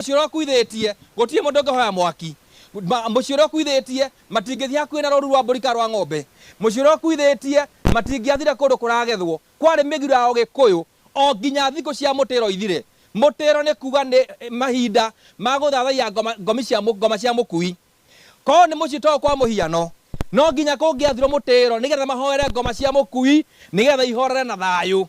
Mũciĩ ũrĩa ũkuithĩtie, gũtirĩ mũndũ ũngĩhoya mwaki. Ma, mũciĩ ũrĩa ũkuithĩtie, matingĩthiĩ hakuhĩ na rũũru rwa mbũri kana rwa ng'ombe. Mũciĩ ũrĩa ũkuithĩtie, matingĩathire kũndũ kũragethwo. Kwarĩ mĩgiro ya Ũgĩkũyũ, o nginya thikũ cia mũtĩro ithire. Mũtĩro nĩ kuuga nĩ mahinda ma gũthathaiya ngoma, ngomi cia, ngoma cia mũkui. Korũo nĩ mũciĩ ta ũyũ kwa mũhiano, no nginya kũngĩathirũo mũtĩro nĩgetha mahoere ngoma cia mũkui nĩgetha ihorere na thayũ.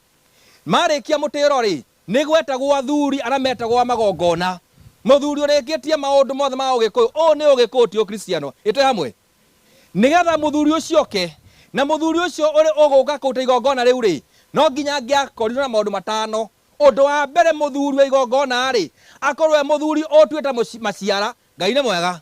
Marĩkia mũtĩro-rĩ, Nĩ gwetagwo athuri arĩa metagwo a magongona. Mũthuri ũrĩkĩtie maũndũ mothe ma Ũgĩkũyũ, ũũ nĩ Ũgĩkũyũ ti Ũkristiano. Ĩ twĩ hamwe? Nĩ getha mũthuri ũcio oke, na mũthuri ũcio ũrĩ ũgũka kũruta igongona rĩu-rĩ, no nginya angĩakorirwo na maũndũ matano. Ũndũ wa mbere mũthuri wa igongona-rĩ, akorwo e mũthuri ũtuĩte maciara. Ngai nĩ mwega.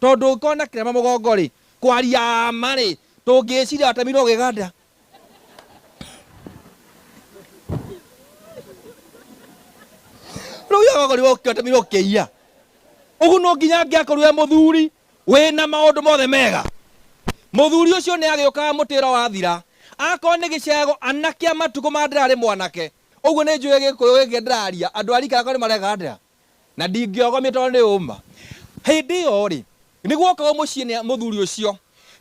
Tondũ ũngĩkorwo na kĩrema mũgongo-rĩ, kwaria ma-rĩ, ndũngĩĩciria watemirwo gĩganda. Rĩu ũngĩaga gũkorwo ũkĩ- watemirwo kĩia, ũguo no nginya angĩakorirwo e mũthuri wĩna maũndũ mothe mega. Mũthuri ũcio nĩ agĩũkaga mũtĩ ũrĩa wathira. Akorwo nĩ gĩcego, anake a matukũ ma Ndera arĩ mwanake. Ũguo nĩ njũĩ Gĩkũyũ gĩkĩ ndĩraria, andũ a rika rĩakwa nĩ maregandera. na ndingĩogomio tondũ nĩ ũma. Hĩndĩ ĩyo-rĩ, nĩgwokaga mũciĩ nĩ mũthuri ũcio,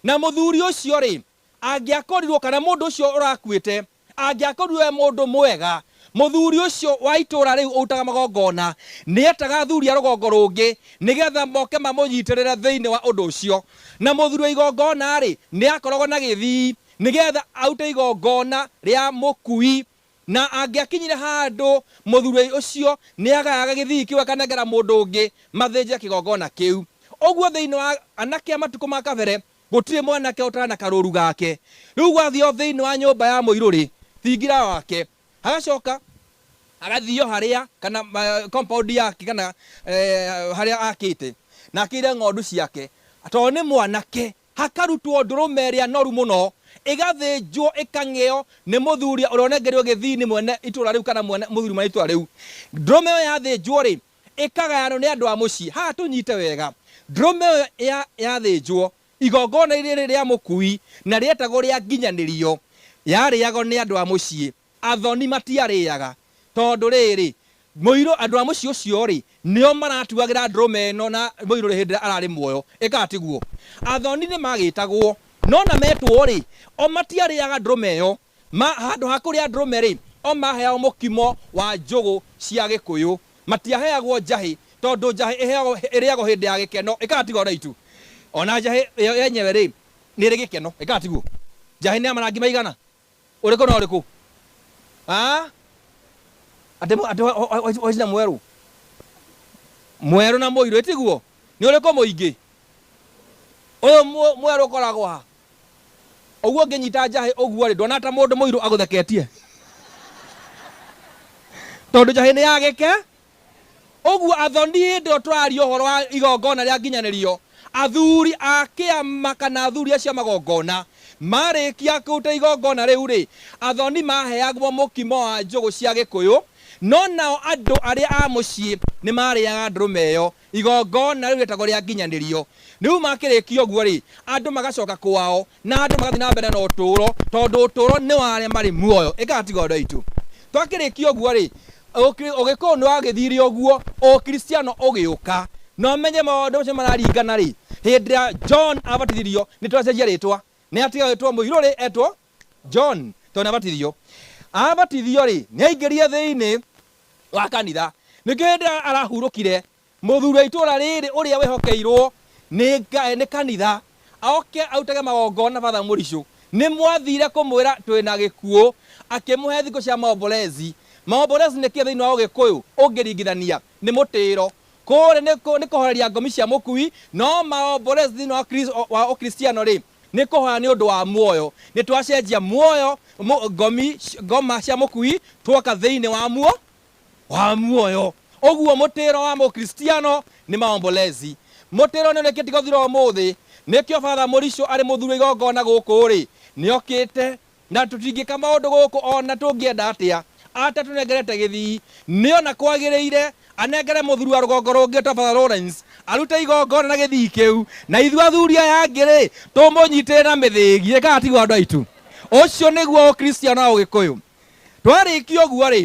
na mũthuri ũcio-rĩ, angĩakorirwo, kana mũndũ ũcio ũrakuĩte angĩakorirwo e mũndũ mwega, mũthuri ũcio wa itũũra rĩu ũrutaga magongona nĩetaga athuri a rũgongo rũngĩ nĩgetha moke mamũnyitĩrĩre thĩinĩ wa ũndũ ũcio. Na mũthuri wa igongona-rĩ, nĩakoragwo na gĩthii nĩgetha arute igongona rĩa mũkui Na angĩakinyire handũ mũthuurei ũcio nĩagayaga gĩthii kĩu akanengera mũndũ ũngĩ mathĩnjĩre kĩgongona kĩu. Ũguo thĩinĩ wa anake a matukũ ma kabere gũtirĩ mwanake ũtarĩ na karũũru gake. Rĩu gwathiio thĩinĩ wa nyũmba ya mũirũ-rĩ, thingira wake, hagacoka hagathiio harĩa, kana compound yake, kana harĩa akĩte, na akĩire ng'ondu ciake, tondũ nĩ mwanake. Hakarutwo ndũrũme ĩrĩa noru mũno, ĩgathĩnjwo, ĩkang'ĩo nĩ mũthuri ũrĩa ũnengerirwo gĩthii nĩ mwene itũũra rĩu kana mwene, mũthuri mwene itũũra rĩu. Ndũrũme ĩyo yathĩnjwo-rĩ, ĩkagayanwo nĩ andũ a mũciĩ. Haha tũnyite wega, ndũrũme ĩyo ya, yathĩnjwo, igongona-inĩ rĩrĩ rĩa mũkui, na rĩetagwo rĩa nginyanĩrio, yarĩagwo nĩ andũ a mũciĩ. Athoni matiarĩĩaga, tondũ rĩĩrĩ, mũirũ, andũ a mũciĩ ũcio-rĩ, nĩo maratuagĩra ndũrũme ĩno na mũirũ-rĩ, hĩndĩ ĩrĩa ararĩ muoyo. Ĩkaga tiguo? Athoni nĩmagĩĩtagwo, no na metwo-rĩ, o matiarĩĩaga ndũrũme ĩyo. Ma, handũ ha kũrĩa ndũrũme-rĩ, o maheagwo mũkimo wa njũgũ cia Gĩkũyũ. Matiaheagwo njahĩ, tondũ njahĩ ĩheagwo, ĩrĩagwo hĩndĩ ya gĩkeno. Ĩkaga tiguo andũ aitũ? O na njahĩ yo yenyewe-rĩ, nĩĩrĩ gĩkeno. Ĩkaga tiguo? Njahĩ nĩ ya marangi maigana? Ũrĩkũ na ũrĩkũ? Aa? Atĩ mũ- atĩ wa- wa- wa- wa- waicina mwerũ? Mwerũ na mũirũ, ĩtiguo? Nĩ ũrĩkũ mũingĩ? Ũyũ mũ- mwerũ ũkoragwo ha? Ũguo ũngĩnyita njahĩ ũguo-rĩ, nduona ta mũndũ mũirũ agũtheketie? Tondũ njahĩ nĩ ya gĩke, Ũguo athoni hĩndĩ ĩyo tũraria ũhoro wa igongona rĩa nginyanĩrio, athuri a kĩama kana athuri acio a magongona marĩkia kũruta igongona rĩu-rĩ, athoni maheagwo mũkimo wa njũgũ cia gĩkũyũ, no nao andũ arĩa a mũciĩ nĩ maarĩaga ndũrũme ĩyo, igongona rĩu rĩetagwo rĩa nginyanĩrio. Rĩu makĩrĩkia ũguo-rĩ, andũ magacoka kwao, Na andũ magathiĩ na mbere na ũtũũro, tondũ ũtũũro nĩ wa arĩa marĩ muoyo. Ĩkaga tiga ũndũ aitũ. Twakĩrĩkia ũguo-rĩ, ũkri, Ũgĩkũyũ nĩ wagĩthire ũguo, Ũkristiano ũgĩũka. Na ũmenye maũndũ macio nĩ mararingana-rĩ, hĩndĩ ĩrĩa John abatithirio, nĩ twacenjia rĩtwa. Nĩ atiga gwĩtwo Mũirũ-rĩ, etwo John, tondũ nĩ abatithirio. Abatithio-rĩ, nĩ aingĩrire thĩinĩ wa kanitha. Nĩkĩo hĩndĩ ĩrĩa arahurũkire, Mũthuri wa itũũra rĩĩrĩ ũrĩa wehokeirwo nĩ Ngaĩ nĩ kanitha, oke arutage magongona Father Mũricũ, nĩ mwathiire kũmwĩra twĩ na gĩkuũ, akĩmũhe thikũ cia maombolezi. Maombolezi nĩ kĩĩ thĩinĩ wa ũgĩkũyũ ũngĩringithania? Nĩ mũtĩĩro. Kũũrĩ nĩ nĩ kũhoreria ngomi cia mũkui, no maombolezi thĩinĩ wa kri wa ũkristiano rĩ, nĩ kũhoya nĩ ũndũ wa muoyo. Nĩ twacenjia muoyo, ngomi, ngoma cia mũkui, twoka thĩinĩ wa muo, wa muoyo uguo mutiro wa mukristiano ni maombolezi mutiro ni urikite guthira umuthi nikio father muricho ari muthuri igongona guku ri niokite na tutingika maundu guku ona tungienda atia atatunengerete githii niona kwagirire anengere muthuri wa rugongo rungi to father Lawrence arute igongona na githii kiu na ithu athuri aya angi ri tumunyitire na mithigie kana tiguo andu aitu ucio niguo ukristiano wa ugikuyu Twarĩkia ũguo-rĩ,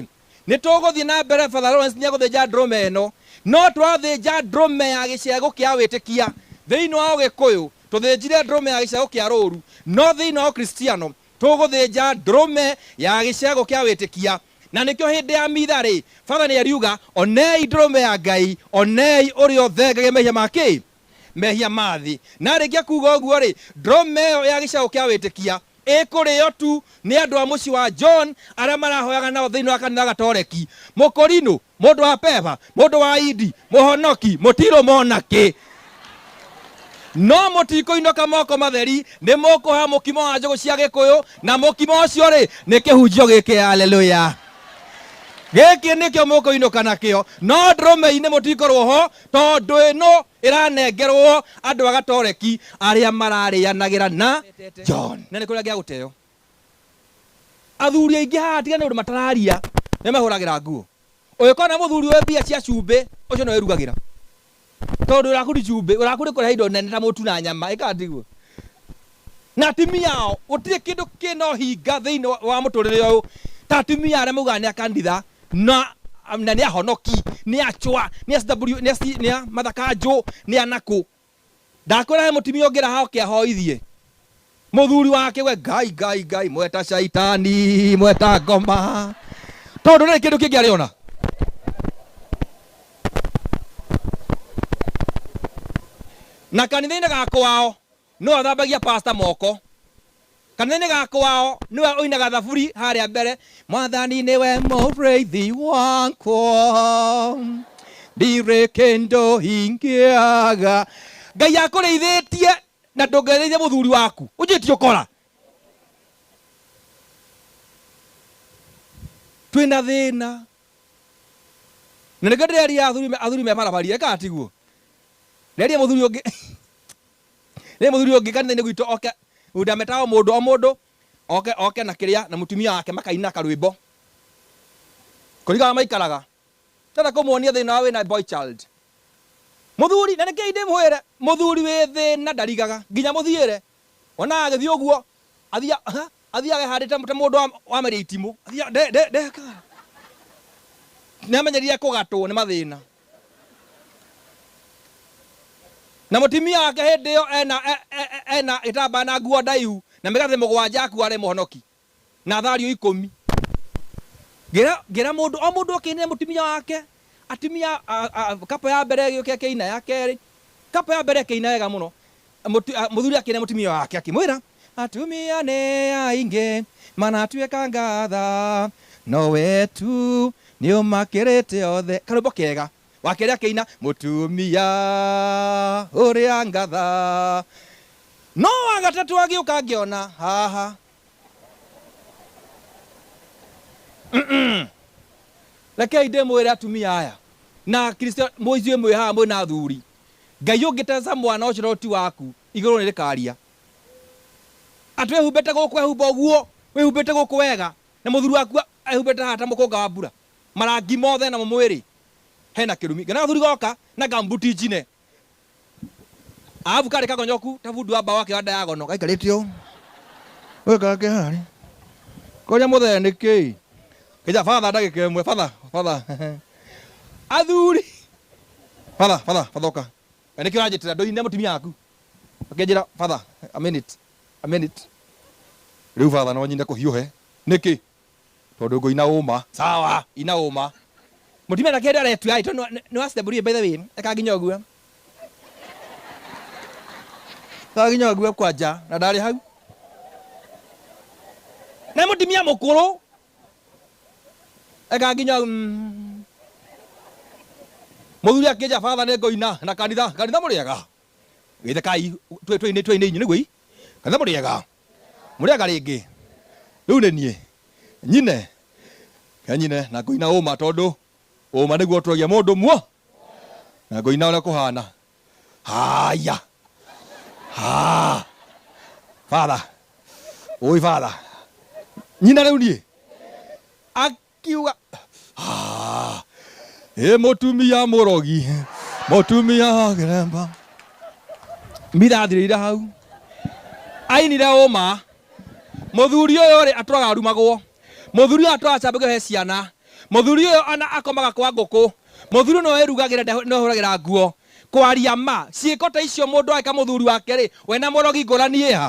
nĩ tũgũthiĩ na mbere, Father Lawrence nĩ egũthĩnja ndũrũme ĩno, no twathĩnja ndũrũme ya gĩcegũ kĩa wĩtĩkia, thĩinĩ wa Ũgĩkũyũ tũthĩnjire ndũrũme ya gĩcegũ kĩa rũũru, no thĩinĩ wa Ũkristiano tũgũthĩnja ndũrũme ya gĩcegũ kĩa wĩtĩkia. Na nĩkĩo hĩndĩ ya mitha-rĩ, Father nĩ ariuga, Onei ndũrũme ya Ngai, onei ũrĩa ũthengagia mehia ma kĩ? mehia ma thĩ. Na aarĩkia kuuga ũguo-rĩ, ndũrũme ĩyo ya gĩcegũ kĩa wĩtĩkia ĩkũrĩo tu nĩ andũ a mũciĩ wa John arĩa marahoyaga nao thĩinĩ wa kanitha Gatoreki, Mũkorinũ, mũndũ wa Peba, mũndũ wa Indi, mũhonoki, mũtirũmwo na kĩ. No mũtikũinũka moko matheri, nĩ mũkũhoya mũkimo wa njũgũ cia Gĩkũyũ, na mũkimo ũcio-rĩ, nĩ kĩhunjio gĩkĩ. Aleluya! Gĩkĩ nĩkĩo mũkũinũka nakĩo. No ndũrũme-inĩ mũtikorwo ho, Tondũ ĩno ĩranengerwo andũ a Gatoreki arĩa mararĩanagĩra na John. Na nĩ kũrĩa angĩagũteyo. Athuri aingĩ haha tiga nĩ ũndũ matararia, nĩmehũragĩra nguo. Ũngĩkorwo na mũthuri ũĩ mbia cia cumbĩ, ũcio nĩwe ũirugagĩra. Tondũ ũraku ti cumbĩ, ũraku nĩ kũrehe indo nene ta mũtu na nyama, ĩ kana tiguo? na atumia ao. Gũtirĩ kĩndũ kĩna ũhinga thĩinĩ wa wa mũtũrĩre ũyũ ta atumia arĩa maugaga nĩ a kanditha na na nĩ ahonoki, nĩ a cwa, nĩ a CW, nĩ a ci- nĩ a mathakanjũ, nĩ a nakũ. Ndakwĩra he mũtumia ũngĩra ha oke ahoithie mũthuri wake we ngai ngai ngai mweta caitani mweta ngoma tondũ ndarĩ kĩndũ kĩngĩ arĩ ona na kanitha-inĩ ga kwao Nũũ ũthambagia pastor moko? Kana nĩ gaka wao nĩwe ũinaga thaburi harĩa mbere, Mwathani nĩwe mũrĩithi wakwa, ndirĩ kĩndũ ingĩaga. Ngai akũrĩithĩtie na ndũngĩrĩithia mũthuri waku? Ũjui ti ũkora. Twĩna thĩna. Na nĩkĩo ndĩreria athuri athuri me barabari ĩka tiguo. Reria mũthuri ũngĩ. Rĩrĩ mũthuri ũngĩ kanitha-inĩ gwitũ oke, ndametaga o mũndũ o mũndũ oke oke na kĩrĩa na mũtumia wake makaina karwĩmbo. Kũringana na maikaraga. Ndĩrenda kũmuonia thĩna wa wĩna boy child. Mũthuri, na rekei ndĩmwĩre, mũthuri wĩ thĩna ndarigaga. Nginya mũthiĩre. Wonaga agĩthiĩ ũguo, athiaga athiaga ehandĩte ta mũndũ wa wa meria itimũ. Athiaga nde nde nde nĩamenyerire kũgatwo nĩ mathĩna. Na mũtimia wake hĩndĩ ĩyo ena, e, e, e, ena gĩtambaya na nguo ndaihu na mĩgathĩ mũgwanja ya kuarĩ mũhonoki na thario ikũmi. Ngĩra, ngĩra mũndũ o mũndũ oke ainĩre mũtimia wake, atimia a, a, kapa ya mbere ĩgĩũke ĩkĩina, ya kerĩ kapa ya mbere ĩkĩina wega mũno, Mũtu- a- Mũthuri akĩĩra mũtumia wake akĩmwĩra, Atumia nĩ aingĩ manatuĩkanga tha, no we tu nĩ ũmakĩrĩte othe. Karwĩmbo kega. Wa kerĩ akĩina, Mũtumia ũrĩa ngatha. No wa gatatũ agĩũka ngĩona haha. rekei ndĩmwĩre atumia aya na kristo mũijuĩ mwĩ haha mwĩ na athuri Ngai ũngĩ teca mwana ũcio no ti waku, igũrũ nĩ rĩkaria atĩ wĩhumbĩte gũkũ ehumba ũguo, wĩhumbĩte gũkũ wega na mũthuri waku ehumbĩte haha ta mũkũnga wa mbura, marangi mothe namo mwĩrĩ hena kĩrumi, ngĩona gathuri goka na ngambuti njine, arabu karĩ kagonyoku ta bundi wa mbaũ akĩoya ndayagono gaikarĩte ũũ, ũgĩkara kĩharĩ, ngoria mũthee nĩkĩĩ? Ĩja father ndagĩka ĩmwe father father athuri father father father ũka na nĩkĩo ũranjĩtĩra ndũine mũtumia waku akĩnjĩra father a minute a minute rĩu father no nyine kũhiũhe nĩkĩ tondũ ngũina ũma sawa ina ũma mũtumia ndakĩenda aretua ĩ tondũ nĩ wa step by the way eka nginya ũguo Twa nginya ũguo kwa nja na ndarĩ hau. Nĩ mũtumia mũkũrũ. Eka nginya mm. Mũthuri akĩnja baba nĩ ngũina na kanitha kanitha mũrĩega. Gĩthe kai twĩ twĩ twĩ inĩ nĩguo i. Kanitha mũrĩega. Mũrĩega rĩngĩ. Rĩu nĩ niĩ. Nyine. Kanyine na ngũina ũma tondũ ũma nĩguo ũtũragia mũndũ muo na ngoina ũrĩa kũhana haya ha father ũĩ father nyina rĩu niĩ akiuga "Ah, ĩ mũtumia mũrogi mũtumia wa kĩremba mirathirĩire hau ainire ũma mũthuri ũyũ rĩ atũraga arumagwo mũthuri ũyũ atũraga cambagio he ciana mũthuri ũyũ ona akomaga kwa ngũkũ Mũthuri nĩwe wĩrugagĩra, ndeho nĩwe wĩhũragĩra nguo. Kwaria ma, ciĩko ta icio mũndũ ageka mũthuri wake-rĩ, we na mũrogi ngũrani ĩ ha?